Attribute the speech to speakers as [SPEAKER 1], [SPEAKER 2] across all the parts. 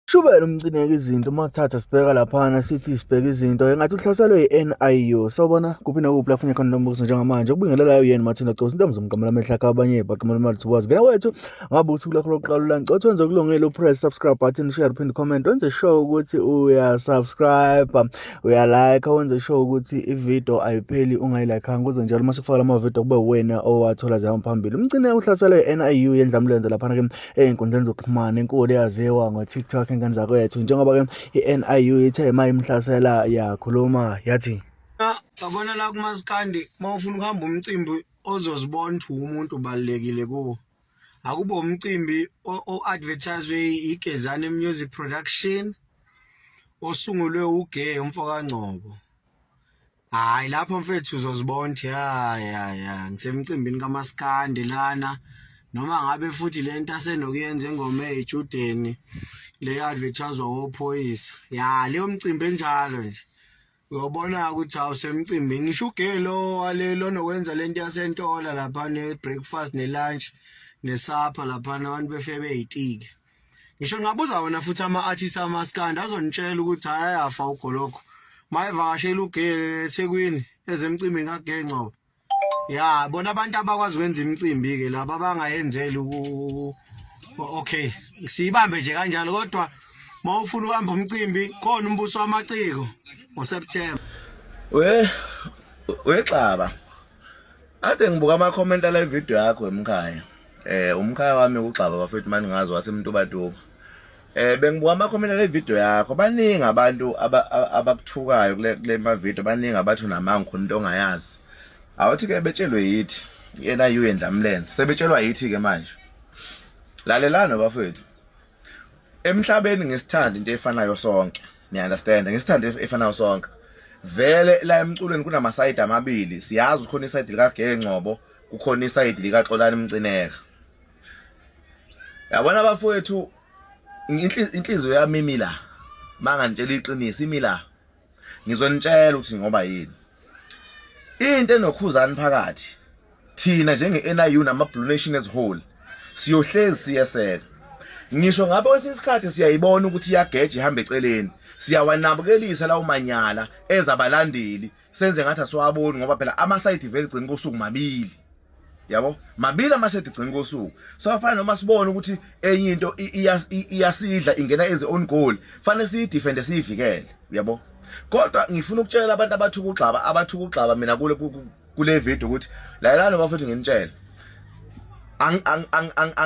[SPEAKER 1] Shubela umcineka izinto uma sithatha sibheka laphana sithi sibheka izinto engathi uhlaselwe yi-NIU sawubona kuphi nakuphi lapho funye khona lo mbuzo njengamanje ukubingelelayo yena Martina Gcosi into mzomgamela amehla akhe abanye baqimela imali thiwazi ngena wethu ngabe uthi kulakho lokuqala ulanci othi wenze okulungile upress subscribe button share phinde comment wenze sure ukuthi uyasubscribe uyalike wenze sure ukuthi ividiyo ayipheli ungayilayikhanga kuze njalo uma sikufakela amavidiyo kube wena owathola zihamba phambili umcine uhlaselwe yi-NIU yendlamulenze laphana ke ey'nkundleni zokuxhumana inkulu eyaziwa ngo-tiktok ingane zakwethu njengoba-ke i-niu ithe ma imhlasela yakhuluma yathi yabona la
[SPEAKER 2] kumasikandi uma ufuna ukuhamba umcimbi ozozibona ukuthi umuntu ubalulekile kuwo akuba umcimbi o-advertiswe igezane music production osungulwe uge umfokangcobo Hayi lapho mfethu uzozibona ukuthi ya ya ya ngisemcimbini kamaskandi lana noma ngabe futhi lento asenokuyenza engoma ezijudeni le advertiswa wophoyisa ya leyo mcimbi enjalo nje uyobona ukuthi awusemcimbi ngisho ugelo walelo nokwenza lento yasentola lapha ne breakfast ne lunch ne supper lapha abantu befebe ezitike ngisho ngabuza wona futhi ama artist amaskandi azonitshela ukuthi hayi ayafa ugoloko mayivakashela ugeke eThekwini ezemcimbini kaGengcobo ya bona abantu abakwazi ukwenza imicimbi ke laba bangayenzeli ku okay siyibambe nje kanjalo kodwa mawufuna uhamba umcimbi khona umbuso wamaciko ngoSeptember we
[SPEAKER 3] wexaba Ade ngibuka ama comment ala video yakho emkhaya. Eh umkhaya wami ukugxaba bafethu mani ngazi wasemntubatuba. Eh bengibuka ama comment ala video yakho baningi abantu abakuthukayo kule kule ma video baningi abathu namanga khona into ongayazi. Awuthi ke betshelwe yithi yena yuyendla mlenze sebetshelwa yithi ke manje. Lalelana bafethu. emhlabeni ngesithanda into efanayo sonke niya understand ngesithanda efanayo sonke vele la emculweni kunamasayidi amabili siyazi khona isayidi likageke ngcobo kukhona isayidi likaxolani mcineka yabona abafowethu inhliziyo yami imila mangantshela iqiniso imila Ngizonitshela ukuthi ngoba yini. Into enokhuzani phakathi thina njenge-NIU nama-Blue Nation as whole siyohlezi siyeseka. Ngisho ngabe kwesinye isikhathi siyayibona ukuthi iyageja ihamba eceleni, siyawanabukelisa lawo manyala enza abalandeli senze ngathi asiwaboni ngoba phela ama-side effects ekugcineni kosuku mabili. yabo mabili amashethi gcina kosuku so afana noma sibone ukuthi enye into iyasidla ingena as own goal fanele siyidefende siyivikele yabo kodwa ngifuna ukutshela abantu abathuka ugxaba abathuka ugxaba mina kule kule video ukuthi lalelani bafethu nginitshela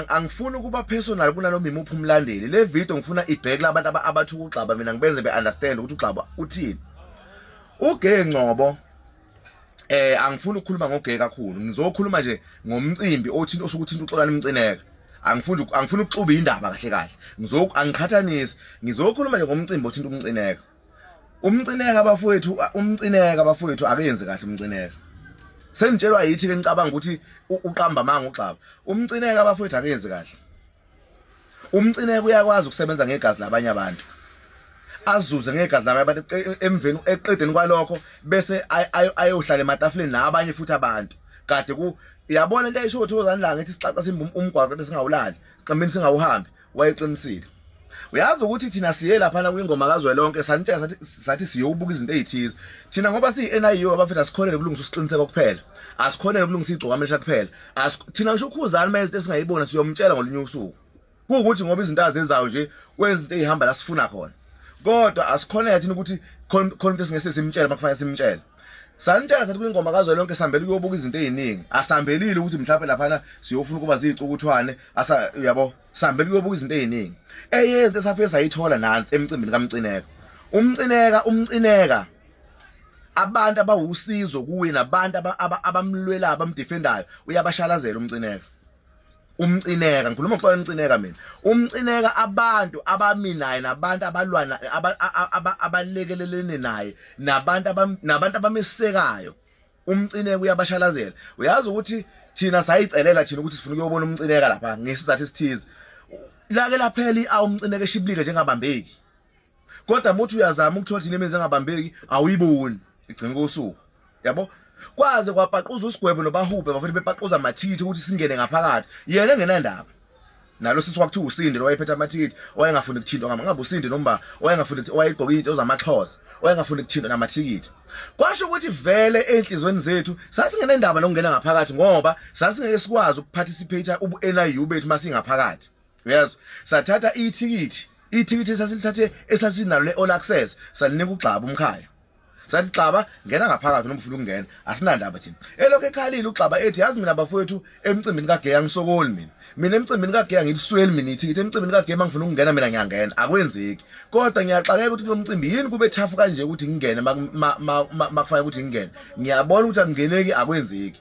[SPEAKER 3] angifuni ukuba personal kunanoma imuphi umlandeli le video ngifuna ibheke labantu abathuka ugxaba mina ngibenze be-understand ukuthi ugxaba uthini ugey ngcobo eh angifuni ukukhuluma ngogeke kakhulu ngizokhuluma nje ngomcimbi othinta osuke uthinta uxolani umcineka angifuni angifuni ukuxuba indaba kahle kahle ngizoku angiqhathanisi ngizokhuluma nje ngomcimbi othinta umcineka umcineka bafowethu umcineka bafowethu akenzi kahle umcineka sengitshelwa yithi ke ngicabanga ukuthi uqamba amanga ugxaba umcineka bafowethu akenzi kahle Umcineka uyakwazi ukusebenza ngegazi labanye abantu azuze ngegazi labanye abantu emveni eqedeni kwalokho bese ayohlala ematafuleni nabanye futhi abantu kade ku yabona into ayisho uThokozani la ngithi sixaxa simba um-, umgwaqo bese singawulali siqambini singawuhambi wayeqinisile uyazi ukuthi thina siye laphana kwingoma kazwelonke sanitshela sathi sathi siyobuka izinto ezithize thina ngoba siyi-NIU abafethu asikholele kulungisa usiqiniseko kuphela asikholele kulungisa igcokamesha kuphela thina ngisho ukhuzani uma izinto esingayibona siyomtshela ngolunye usuku kuwukuthi ngoba izinto azenzayo nje kwezinto eyihamba la sifuna khona kodwa asikhoneke thina ukuthi khona into esingese simtshele uma kufanele simtshele sanitshela sathi kwingoma kazwelonke sihambele ukuyobuka izinto eziningi asihambelile ukuthi mhlawumbe laphana siyofuna ukuba ziyicukuthwane uyabo Sihambe kuyobuka izinto eziningi. Eyezi esafike sayithola nansi emcimbini kaMcineka. UMcineka umcineka abantu abawusizo kuye nabantu abamlwelayo abamdefendayo uyabashalazela uMcineka. umcineka ngikhuluma ngokuxola umcineka mina umcineka abantu abaminayo nabantu abalwana abalekelelene naye nabantu nabantu abamesekayo umcineka uyabashalazela uyazi ukuthi thina sayicelela thina ukuthi sifuna ukuyobona umcineka lapha ngesizathu esithize lake laphela i-a umcineka eshibilika njengabambeki kodwa muthi uyazama ukuthola thina imizi engabambeki awuyiboni igcina kosuku yabo kwaze kwapaquza usigwebo nobahubhe bafuna bepaquza mathithi ukuthi singene ngaphakathi yena engenandaba nalo sisi kwakuthiwa usindi lowayephethe amathikithi owayengafuni kuthintwa ngama ngabe usindi nomba owayengafuni ukuthi owayegqoka into zamaxhosa owayengafuni kuthintwa namathikithi kwasho ukuthi vele ezinhlizweni zethu sasingenendaba nokungena ngaphakathi ngoba sasingeke sikwazi ukuparticipate ubu-NIU bethu masingaphakathi yes sathatha ithikithi ithikithi esasilithathe esasinalo le-all access salinika ugxaba umkhaya sathi xaba ngena ngaphakathi noma ufuna ukungena asinandaba thina elokhu ekhalile uxaba ethi yazi mina bafowethu emcimbini kageya ngisokoli mina mina emcimbini kageya ngilisweli mina ithikithi emcimbini kageya uma ngifuna ukungena mina ngiyangena akwenzeki kodwa ngiyaxakeka ukuthi kulo mcimbi yini kube thafu kanje ukuthi ngingene makufanele ukuthi ngingene ngiyabona ukuthi akungeneki akwenzeki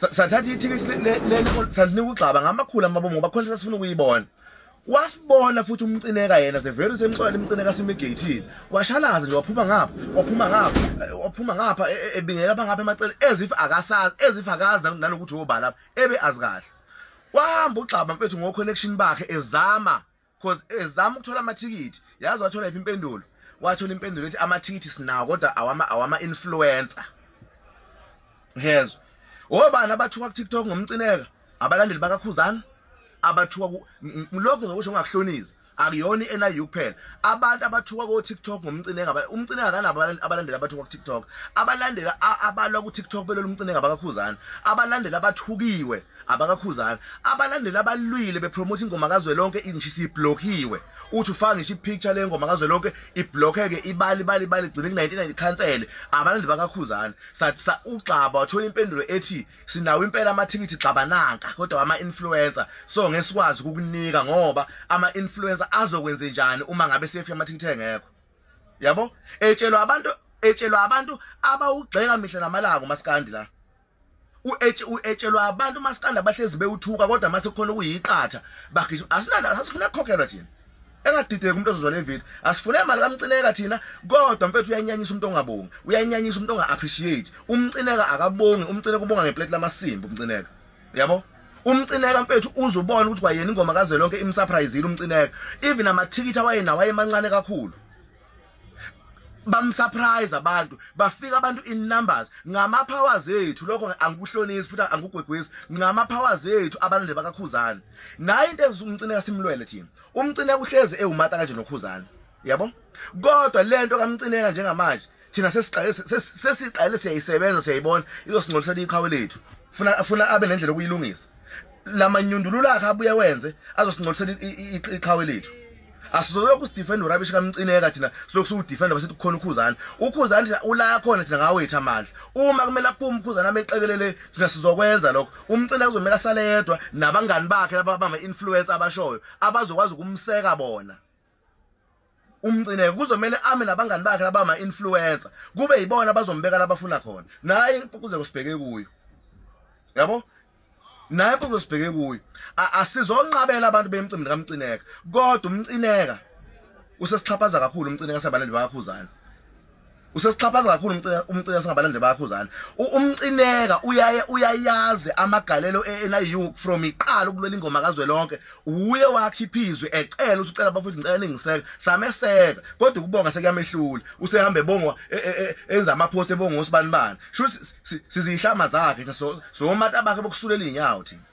[SPEAKER 3] sathatha ithikithi salinika ugxaba ngamakhulu amabomu ngoba khona sasifuna ukuyibona wasibona futhi umcineka yena the very same xola limcineka simigeyithile washalaza nje waphuma ngapha waphuma ngapha eh, waphuma ngapha e, e, ebingela bangapha emacele as if akasazi as if akazi nanokuthi wobala lapha ebe azi kahle wahamba ugxaba mfethu ngo-connection bakhe ezama cause ezama ukuthola amathikithi yazi wathola iphi impendulo wathola impendulo ethi amathikithi sinawo kodwa awama awama influencer ngezwe obani abathuka ku TikTok ngomcineka abalandeli bakakhuzana abathuka lokho ngokusho ngakuhloniza akuyona i-NIU kuphela abantu abathuka ko-tiktok ngomcinenga umcinenga akanabo abalandeli abathuka ku-tiktok abalandela abalwa ku-tiktok belolu umcinenga bakakhuzana abalandeli abathukiwe AbakaKhuzani abalandeli abalwile bepromote ingoma kazwelonke nje siblokiwe uthi ufaka ngisho ipicture lengoma kazwelonke iblockeke ibali bali bali gcine ku-1990 cancele abalandeli bakaKhuzani sathi ugxaba wathola impendulo ethi sinawo impela amathikithi gxaba nanka kodwa wama-influencer so ngeke sikwazi ukukunika ngoba ama-influencer azokwenze njani uma ngabe sefika amathikithi engekho yabo etshelwa abantu etshelwa abantu abawugxeka mihla namalanga umaskandi la uetshelwa abantu umaskandi abahlezi bewuthuka kodwa mase kukhona okuyiqatha bagijima asinanda asifuna kukhokhelwa thina engadideki umuntu ozozwa le video asifune imali kamcineka thina kodwa mfethu uyayinyanyisa umuntu ongabongi uyayinyanyisa umuntu onga-appreciate umcineka akabongi umcineka ubonga ngepleti lamasimba umcineka yabo umcineka mfethu uze ubone ukuthi kwayena ingoma kazwelonke imsurprisile umcineka even amathikithi awayenawo ayemancane kakhulu bamsurprise abantu bafika abantu in numbers ngama powers ethu lokho angikuhlonisi futhi angikugwegwisi ngama powers ethu abalande bakakhuzana naye into engithi umcine kasimlwele thina umcine kuhlezi ewumata kanje nokhuzana yabo kodwa lento kamcineka njengamanje thina sesiqale sesiqale siyayisebenza siyayibona izosingcolisela iqhawe lethu funa funa abe nendlela okuyilungisa lamanyundululo akhe abuye wenze azosincolisela iqhawe lethu asizolokhu sidefenda urabishi kamcineka thina silokhu siwudefenda basithi kukhona ukhuzane ukhuzane thina ula khona thina ngawethu amandla uma kumele aphume ukhuzane ameqekelele thina sizokwenza lokho umcineka kuzomele asale yedwa nabangani bakhe laba bama-influence abashoyo abazokwazi ukumseka bona umcineke kuzomele ame nabangani bakhe labama influencer kube yibona bazombeka labafuna khona naye impucuzeko sibheke kuyo yabo naye impucuzeko sibheke kuyo asizonqabela abantu bemcimbi kamcineka kodwa umcineka usesixhaphaza kakhulu umcineka sabalandi bakakhuzana usesixhaphaza kakhulu umcika umcika singabalandeli bayakhuzana umcineka uyaye uyayazi amagalelo eNIU from iqala ukulwela ingoma kazwelonke uye wakhiphizwe ecela ukuthi ucela bafethu ngicela ningiseka sameseka kodwa ukubonga sekuyamehlula usehamba ebongwa e, e, e, enza amapost ebonga usibani bani shuthi sizihlama zakhe so so mata bakhe bokusulela inyawo thina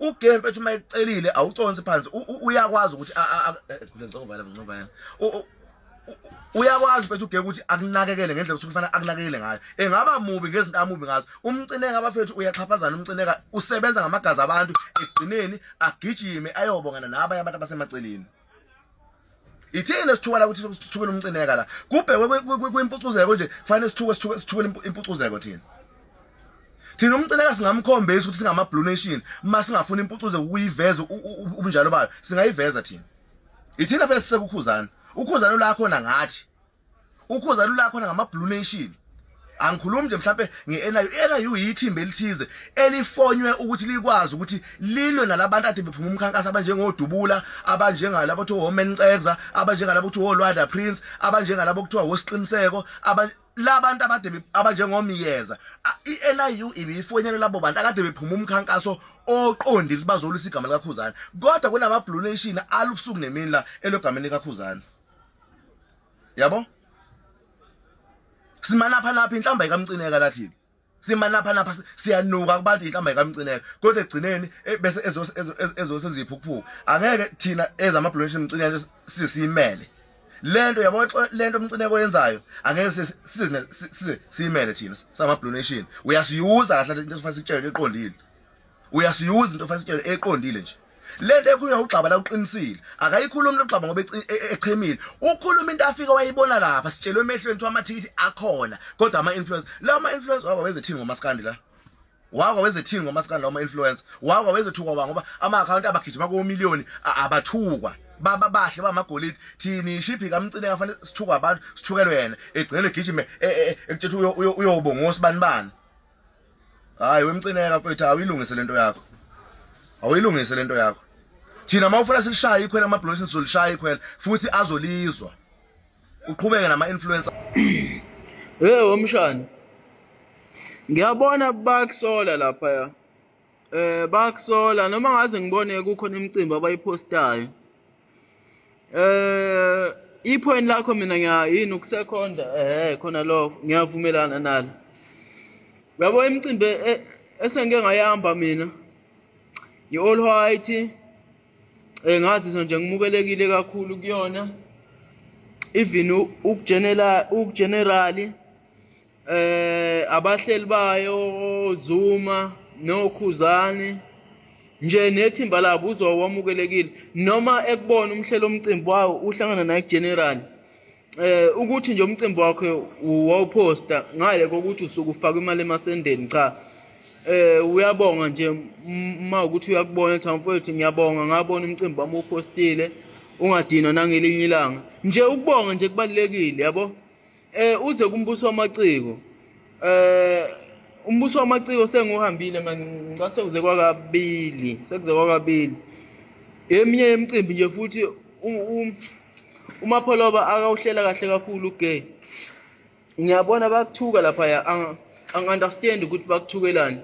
[SPEAKER 3] ugame mfethu uma ekucelile awuconsi phansi uyakwazi ukuthi eh, uyakwazi mfethu ugeke ukuthi akunakekele ngendlela ukuthi kufanele akunakekele ngayo engaba mubi ngezinto amubi ngazo umcineka abafethu uyaxhaphazana umcineka usebenza ngamagazi abantu ekugcineni agijime ayobongana nabanye abantu abasemaceleni Ithina sithuka la ukuthi sithukele umcineka la. Kubhekwe kwimpucuzeko nje kufanele sithuke sithuke sithukele impucuzeko thina. Thina umcineka singamkhombisa ukuthi singama Blue Nation masingafuna impucuzeko ukuyiveza ubunjalo bayo singayiveza thina. Ithina phela sisekukhuzana. Ukhuzana la khona ngathi. ukhoza lula khona ngama blue nation angikhulumi nje mhlambe ngeNIU iNIU yithimba elithize elifonywe ukuthi likwazi ukuthi lilwe nalabantu ade bephuma umkhankaso abanjengodubula abanjengalabo kuthiwa women ceza abanjengalabo kuthiwa wolwada prince abanjengalabo kuthiwa wosiqiniseko labantu abade abanjengomyeza iNIU ibiyifonela labo bantu akade bephuma umkhankaso oqondile bazolisa igama likakhuzana kodwa kunama blue nation alubusuku nemini la elogama likakhuzana yabo simanapha napha inhlamba ikamcineka lathini simanapha napha siyanuka kubantu inhlamba ikamcineka kodwa ekugcineni e, bese ezosenza iphukuphuku angeke thina ezamabhulonshi mcineka sisiyimele lento yabo lento umcineko yenzayo angeke size size siyimele thina samabhulonation uyasiyuza kahle into esifanele sitshele eqondile Uyasiyuza into fasitshele eqondile nje. Lento ekhulunywa ugxaba la uqinisile. Akayikhulumi logxaba ngoba e- e- echemile. Ukhuluma into afika wayibona lapha sitshelwe emehlweni kuthiwa amathikithi akhona kodwa ama influence. Lawa ama influence waba wezethini ngomaskandi la. Waba wezethini ngomaskandi lawa ama influence. Waba wezethukwa wa ngoba ama account abagijima ko million a- abathukwa. Baba bahle bamagolide thini shiphi kamcine kafanele sithukwa abantu sithukelwe yena egcine egijime e- e- e- ekutshela uyo uyo- uyobongosi bani bani. hayi wemcineka mfethu awuyilungise lento yakho awuyilungise lento yakho thina uma ufuna silishaye ikhwela amabhulosini sizolishaya ikhwela futhi azolizwa uqhubeke nama-influencer hey womshana
[SPEAKER 4] ngiyabona bakusola laphaya Eh bakusola noma ngaze ngibone kukhona imicimbi abayipostayo. Eh iphone lakho mina ngiya yini ukusekhonda eh khona lo ngiyavumelana nalo. Yabo imicimbi e, esengike ngayihamba mina i-all white eh ngazizwa nje ngimukelekile kakhulu kuyona even ukujenela ukugenerali eh abahleli bayo Zuma nokhuzani nje nethimba labo uzowa wamukelekile noma ekubona umhlelo omcimbi wawo uhlangana naye general eh ukuthi nje umcimbi wakhe wawuposta ngale kokuthi usuku ufaka imali emasendeni cha eh uyabonga nje uma ukuthi uyakubona ukuthi mfowethu ngiyabonga ngabona umcimbi wami upostile ungadinwa nangelinye ilanga nje ukubonga nje kubalekile yabo Eh uze kumbuso wamaciko. Eh umbuso wamaciko senguhambile manje ngase kuze kwakabili, sekuze kwakabili. Eminye yemicimbi nje futhi uMapholoba akawuhlela kahle kakhulu ugay. Ngiyabona bakuthuka lapha ya angiunderstand ukuthi bakuthukelani.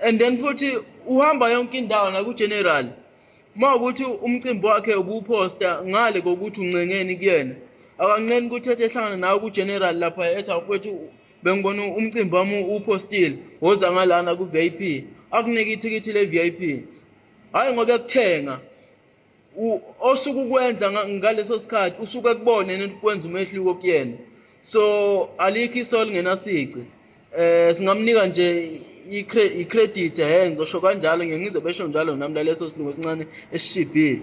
[SPEAKER 4] And then futhi uhamba yonke indawo naku general. Uma ukuthi umcimbi wakhe ubuwuphosta ngale kokuthi uncengeni kuyena, akanqeni ukuthi ethi ehlangana nawe kuGeneral lapha ethi awufethu bengibona umcimbi wami uwuphostile, woza ngalana ku-VIP, akunike ithikithi le-VIP. Hhayi ngoba ekuthenga, osuke ukwenza ngaleso sikhathi usuke ekubona yena ukuthi kwenza umehluko kuyena. so alikho iso lingenasici eh singamnika nje i-credit he ngizosho kanjalo ngiye ngize besho njalo nami laleso silungu esincane esishibhile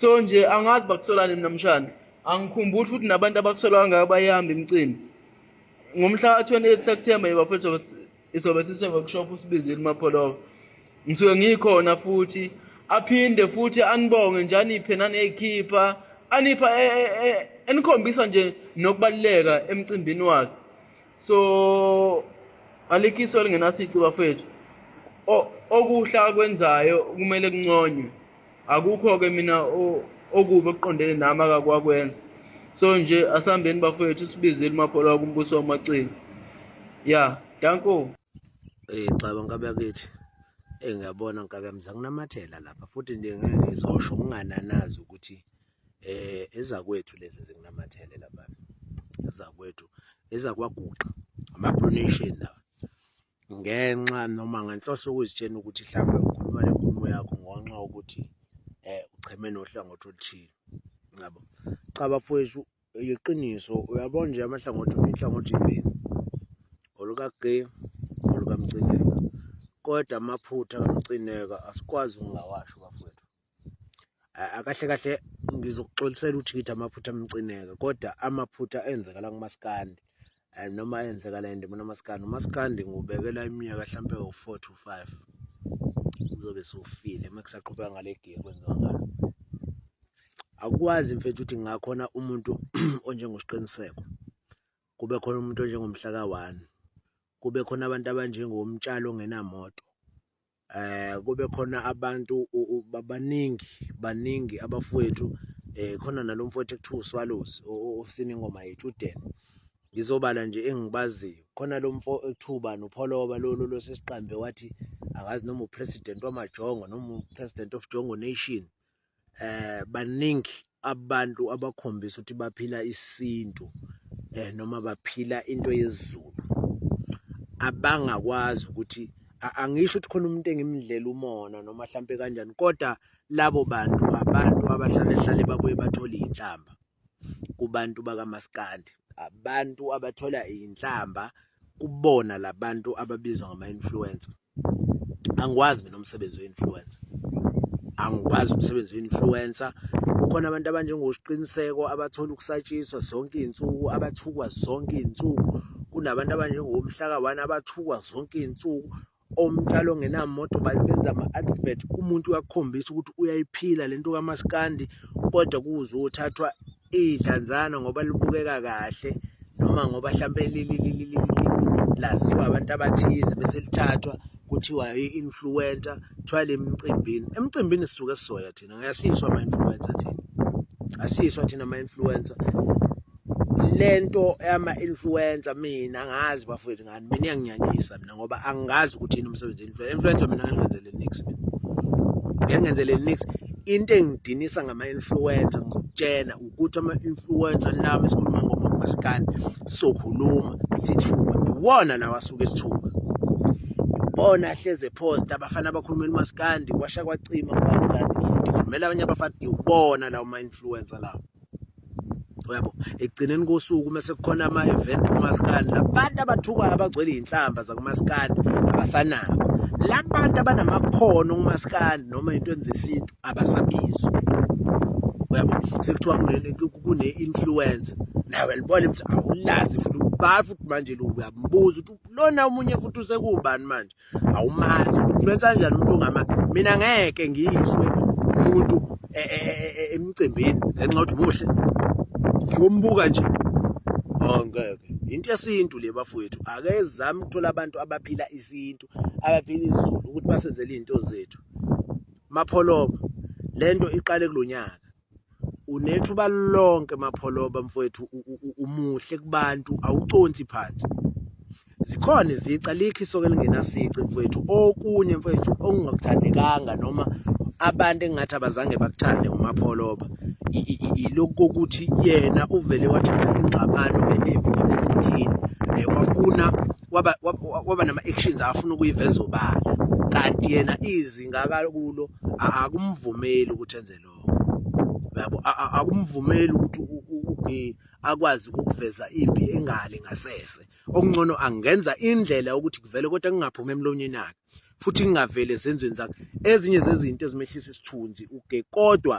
[SPEAKER 4] so nje angazi bakusolani mina mshana angikhumbuli futhi nabantu abakusolwa ngayo bayihamba imicimbi ngomhla ka-28 september yebafethu Isobe sise-workshop uSibizile uMapholova. Ngisuke ngikhona futhi aphinde futhi anibonge nje aniphe naneyikhipha anipha e, e, e, enikhombisa nje nokubaluleka emcimbini wakhe so alikiso elingenasici bafethu okuhle akwenzayo kumele kunconywe Akukho-ke mina okubi okuqondene nami akakwakwenza. So nje asihambeni bafowethu sibizile umakholwa wakumbuso wamaciko. Ya, danko. Eh
[SPEAKER 5] cha bankabe yakithi. Eh ngiyabona nkabe yami zanginamathela lapha futhi nje ngeke ngizosho ngingananazi ukuthi eh ezakwethu lezi zinginamathele lapha. Ezakwethu ezakwaguqa ama pronation lawa. ngenxa noma ngenhloso yokuzitshena ukuthi mhlawumbe ukhuluma le nkulumo yakho ngonxa ukuthi um ucheme nohlangothi oluthile ngabo cha bafowethu yiqiniso uyabona nje amahlangothi inhlangothi imbili olukagay olukamcineka kodwa amaphutha kamcineka asikwazi ukungawasho bafowethu akahle kahle ngizokuxolisela ukuthi ngithi amaphutha amcineka kodwa amaphutha enzekala kumaskandi eh, noma enzekala endimona umaskandi umaskandi ngubekela iminyaka hlampe u-four to five uzobe sufile uma kusaqhubeka ngale giye kwenziwa ngayo akwazi mfethu ukuthi ngakhona umuntu onjengosiqiniseko kube khona umuntu onjengomhlaka one kube khona abantu abanjengomtshalo ongenamoto eh kube khona abantu babaningi baningi abafowethu eh khona nalomfowethu ekuthiwa uSwallows osina ingoma yethu uDen ngizobala nje engibaziyo khona lo mfo ethuba nopholoba lolu losesiqambe wathi akazi noma upresident wamajongo noma upresident of jongo nation eh baningi abantu abakhombisa ukuthi baphila isintu eh noma baphila into yezulu abangakwazi ukuthi angisho ukuthi khona umuntu engimdlela umona noma mhlampe kanjani kodwa labo bantu abantu abahlale hlale babuye bathole inhlamba kubantu bakamaskandi abantu abathola iy'nhlamba kubona labantu ababizwa ngama-influencer angikwazi mina umsebenzi we-influencer angikwazi umsebenzi we-influencer kukhona abantu abanjengosiqiniseko abathola ukusatshiswa zonke iy'nsuku abathukwa zonke iy'nsuku kunabantu abanjengomhlaka one abathukwa zonke iy'nsuku omtshalo ongenamoto babenza ama-advert umuntu uyakukhombisa ukuthi uyayiphila le nto kamaskandi kodwa kuze uthathwa idlanzana ngoba libukeka kahle noma ngoba hlampe laziwa abantu abathize bese lithathwa kuthiwa i-influencer kuthiwa le mcimbini emcimbini sisuke sizoya thina ngiyasiswa ama influencer thina asiswa thina ama influencer lento ama influencer mina ngazi bafowethu ngani mina iyanginyanyisa mina ngoba angazi ukuthi yini umsebenzi influencer influencer mina ngenzele nix mina ngenzele nix into engidinisa ngama influencer ngizokutshena ukuthi ama-influencer lama esikhuluma ngoba kumasikani sokhuluma sithuka iwona lawa asuke sithuka bona ahleze phosta abafana abakhuluma elimasikandi kwasha kwacima kubani ngikhulumela abanye abafana iwona lawo ma-influencer lawo yabo ekugcineni kosuku uma sekukhona ama-event kumasikani labantu abathukwayo abagcwele iy'nhlamba zakumasikani abasanabo labantu abanamakhono kumasikani noma into enzesintu abasabizwa uyabo sekuthiwa kune-influence nawe libona ukuthi awulazi futhi ubani futhi manje lo uyambuza ukuthi lona omunye futhi usekubani manje awumazi influence kanjani umuntu ongama mina ngeke ngiyiswe umuntu e, e, e, emcimbini ngenxa yokuthi muhle ngiyombuka nje oh ngeke into yesintu le bafowethu akezami ukuthola abantu abaphila isintu abaphila izulu ukuthi basenzele izinto zethu Mapholoba lento iqale kulonyaka unethuba lonke mapholoba mfowethu umuhle kubantu awuconsi phansi zikhona izici alikho isoke lingenasici mfowethu okunye mfowethu okungakuthandekanga noma abantu engathi abazange bakuthande umapholoba ilokhu kokuthi yena uvele wathatha ingxabano enembi sezithini um wafuna waba waba nama actions afuna ukuyiveza obala kanti yena izinga akakulo akumvumeli ukuthi enze lokho yabo akumvumeli ukuthi ugi akwazi ukuveza impi engale ngasese okungcono angenza indlela ukuthi kuvele kodwa kungaphumi emlonyeni yakhe futhi ngingavele ezenzweni zakhe ezinye zezinto ezimehlisa isithunzi uge kodwa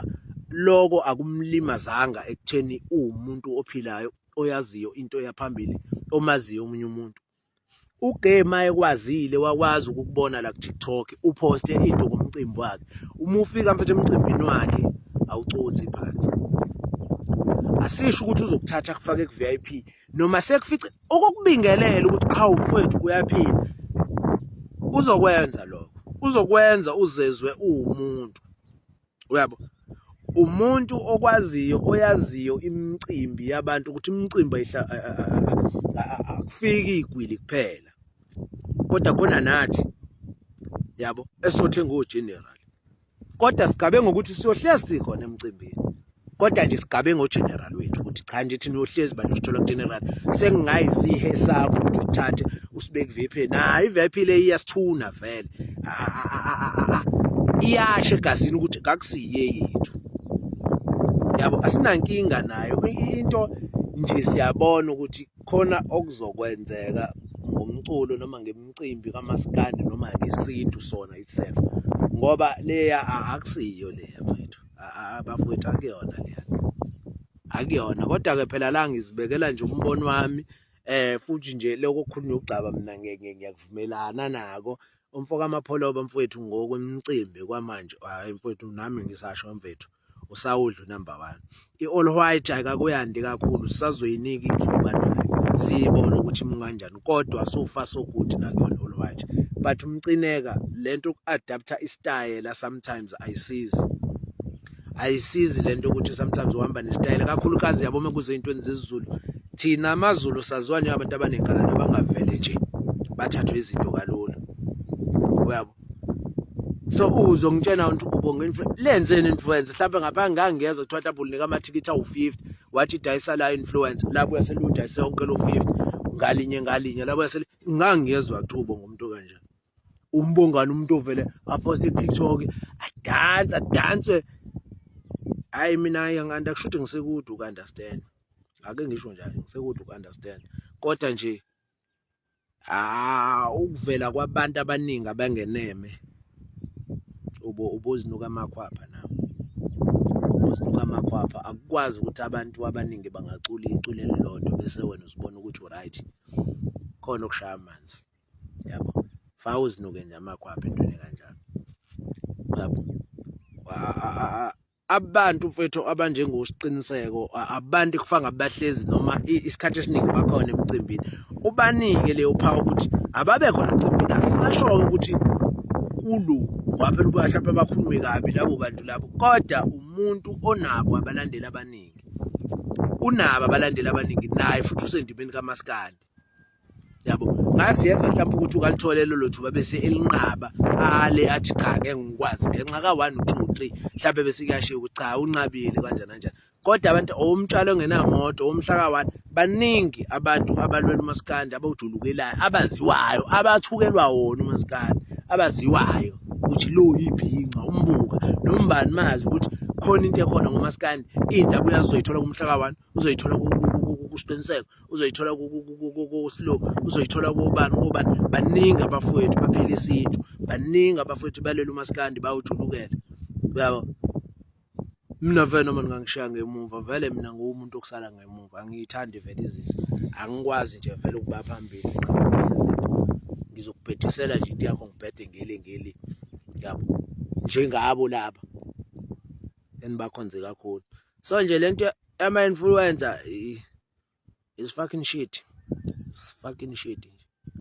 [SPEAKER 5] loko akumlimazanga ekutheni uwumuntu ophilayo oyaziyo into eya phambili omaziyo omunye umuntu ugame ekwazile wakwazi ukukubona la ku TikTok uphoste into ngomcimbi wakhe uma ufika mfethu emcimbini wakhe awucothi phansi asisho ukuthi uzokuthatha kufake ku VIP noma sekufica okokubingelela ukuthi awu mfowethu kuyaphila uzokwenza lokho uzokwenza uzezwe uwumuntu uyabo umuntu okwaziyo oyaziyo imicimbi yabantu ukuthi imicimbi akufiki igwili kuphela kodwa khona nathi yabo esothe ngo-general kodwa sigabe ngokuthi siyohlezi sikhona emcimbini kodwa nje sigabe ngogeneral wethu ukuthi cha nje thina uyohlezi bantu sithola kugeneral sengingayisihe sakho ukuthi uthathe usibeke VIP na iVIP le iyasithuna vele iyashe egazini ukuthi kakusiye yethu yabo asinankinga nayo into nje siyabona ukuthi khona okuzokwenzeka ngomculo noma ngemicimbi kamaskandi noma ngesintu sona itself ngoba leya akusiyo leya mfethu abafowethu akuyona leya akuyona kodwa ke phela la ngizibekela nje umbono wami eh futhi nje lokho kukhulunywa ukugcaba mina ngiyakuvumelana nako umfo kamapholoba mfowethu ngokwemcimbi kwamanje hayi mfowethu nami ngisasho mfethu usawudlu number 1 i-all white ayikakuyandi kakhulu sisazoyinika ithuba nayo siyibone ukuthi munganjani kodwa so far so good nakuyona all right but umcineka lento uku-adaptha istayela sometimes ayisizi ayisizi lento ukuthi sometimes uhamba nesitayela kakhulukazi yabo uma kuze intweni zezizulu thina amazulu saziwa abantu abanenkala nabangavele nje bathathwe izinto kalula uyabo so uzo ngitshena ukuthi ubonga influence lenzeni influence mhlawumbe ngapha ngangiyeza kuthiwa mhlawumbe unika amathikithi awu-50 wathi dayisa la influencer lapho yaseludayise yonke lo 50 ngalinye ngalinye lapho yasele ngangiyezwa thubo ngomuntu kanje umbongani umuntu ovele aposte TikTok adansa danswe hayi mina nganda kushuthi ngisekude ukunderstand ake ngisho njalo ngisekude ukunderstand kodwa nje ah ukuvela kwabantu abaningi abangeneme ubo ubozinuka amakhwapha nawo ubozinuka amakhwapha akukwazi ukuthi abantu abaningi bangacula icule elilodwa bese wena uzibona ukuthi uright khona okushaya amanzi yabo fa uzinuke nje amakhwapha entweni kanjalo yabo abantu mfethu abanjengosiqiniseko abantu kufanga bahlezi noma isikhathi esiningi bakhona emcimbini ubanike leyo phawu ukuthi ababe khona emcimbini asisashoyo ukuthi kulu waphela ukuba mhlawumpe bakhulume kabi labo bantu labo kodwa umuntu onabo abalandeli abaningi unabo abalandeli abaningi naye futhi usendimeni kamaskandi yabo ngazi yezwa mhlawumbe ukuthi ukalithole lelo thuba bese elinqaba ale athi cha ngeke ngikwazi ngenxa ka 1 2 3 mhlawumbe bese kuyashiya ukuthi cha unqabile kanjani kanjani kodwa abantu owomtshalo ongenamoto owomhlaka 1 baningi abantu abalwela umaskandi abawujulukelayo abaziwayo abathukelwa wona umaskandi abaziwayo ukuthi lo yibhinca umbuka nombani mazi ukuthi khona into ekhona ngomaskandi indaba uyazoyithola kumhlaka 1 uzoyithola kuSiqiniseko uzoyithola kuSlow uzoyithola kobani kobani baningi abafowethu baphila isintu baningi abafowethu balele umaskandi bawujulukela uyabo mina vele noma ningangishiya ngemuva vele mina nguwumuntu okusala ngemuva angiyithandi vele izinto angikwazi nje vele ukuba phambili ngizokubhedisela nje into yakho ngibhede ngeli ngeli yabo njengabo laba enibakhonze kakhulu so nje lento ama influencer is fucking shit is fucking shit nje